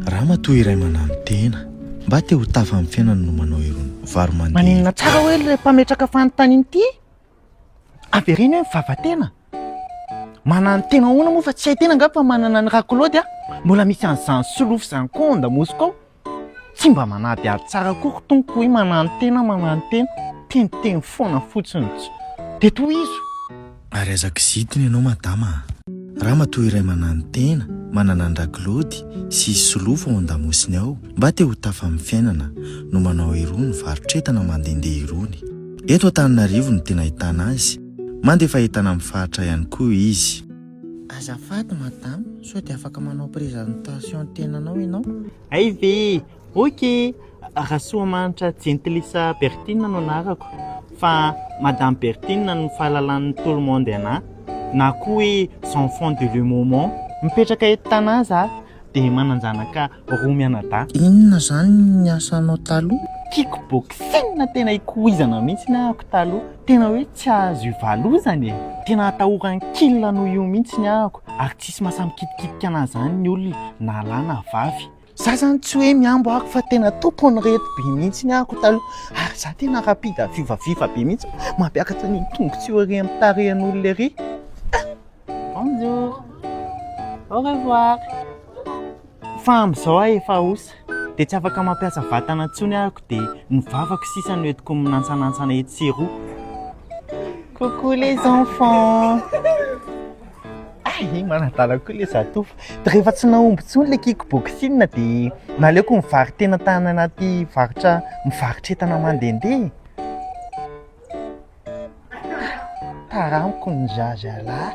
Ramatoa iray mananontena, Mba te ho tafa amin'ny fiainana no manao irony vary mandeha irony? Maninona tsara hoe ilay mpametraka fanontaniana ity? Avereno hoe mivava-tena. Mananontena ahoana moa fa tsy hay tena angamba fa manana an'i Rakolody a! Mbola misy an'izany solofo izany koa ao Andamosiko ao. Tsy mba manadihady tsara koa ry Tompoko hoe mananontena, mananontena. Teniteny foana fotsiny. Dia tohizo. Ary aza kizitina ianao madama a! Ramatoa iray mananontena, manana an-dRakilaody sy izy solofo ao an-damosiny ao, mba te ho tafa amin'ny fiainana, no manao irony varotr'entana mandehandeha irony. Eto Antananarivo no tena ahitana azy, mandefa entana amin'ny faritra ihany koa izy. Azafady madama, sao dia afaka manao prise en tension ny tenanao ianao? Hay ve! Ok! Rasoamanitra Jentilisa Berthine no anarako fa Madame Berthine no fahalalan'ny tout le monde anah na koa hoe j'enfant de le moment. Mipetraka eto Tana za dia manan-janaka roa mianadahy. Inona zany ny asanao taloha? Kick boxing tena ikoizana mihitsy ny ahako taloha, tena hoe tsy azo ivalozana e! Tena atahoran'ny kil noho io mihitsy ny ahako ary tsisy mahasahy mikitikitika anah zany ny olona na lahy na vavy. Za zany tsy hoe mihambo ako fa tena tompony reto be mihitsy ny ako taloha ary za tena rapide à viva viva be mihitsy mampiakatra ny tombontsoa ery amin'ny tarehin'olona ery. Bonjour. Au revoir. Fa amin'izao aho efa osa dia tsy afaka mampiasa vatana intsony ako dia ny vavako sisa no entiko minantsanantsana etsy sy eroa. Coucou les enfants. Ah, i manadala koa le zatovo. Dia rehefa tsy nahomby intsony le kick boxing dia naleoko mivari-tena tany anaty varotra mivarotra entana mandehandeha. Taramiko ny zazalahy.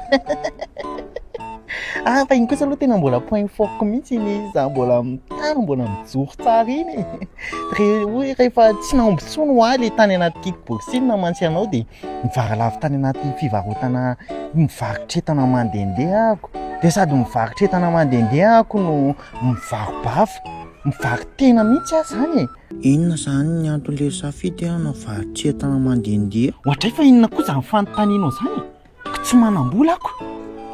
Ah, fa iny kosa aloha tena mbola point fort mihitsy iny za mbola mitano, mbola mijoro tsara iny. Re- hoy rehefa tsy nahomby intsony ho ahy le tany anaty kick boxing namantsy anao dia Nijara lavo tany anaty fivarotana mivarotra entana mandehandeha ahako dia sady mivarotra entana mandehandeha ahako no mivaro-bava, mivaro-tena mihitsy aho izany e! Inona izany ny anton'ilay safidy hanao varotra entana mandehandeha? Ohatray fa inona koa izany fanontanianao izany e! Ka tsy manam-bola ako!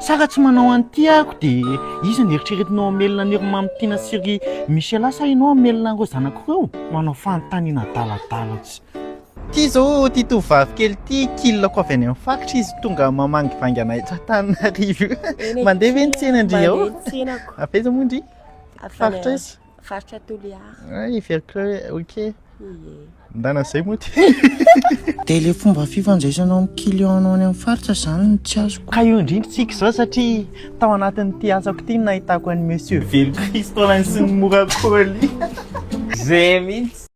Sa raha tsy manao an'ity ahako dia iza no eritreretinao hamelona an'i ry Mamitiana sy ry Michela sa ianao hamelona an'ireo zanako ireo? Manao fanontaniana adaladala tsy. Ity izao ity tovovavy kely ity kilako avy any amin'ny faritra izy tonga mamangivangy anay eto Antananarivo io. Mandeha ve ny tsena ndry ao? Mandeha ny tsenako. Avy aiza moa ndry? Avy Faritra any- aiza? Faritra Toliara. Ay, heveriko hoe ok. Ie. Ndana izay moa ty. Dia ilay fomba fifandraisanao amin'ny client-nao any amin'ny faritra izany no tsy azoko. Ka io indrindra tsika izao satria tao anatin'ity asako ity no nahitako an'i Monsieur Velokristo Alain sy ny mora colis. Zay mihitsy.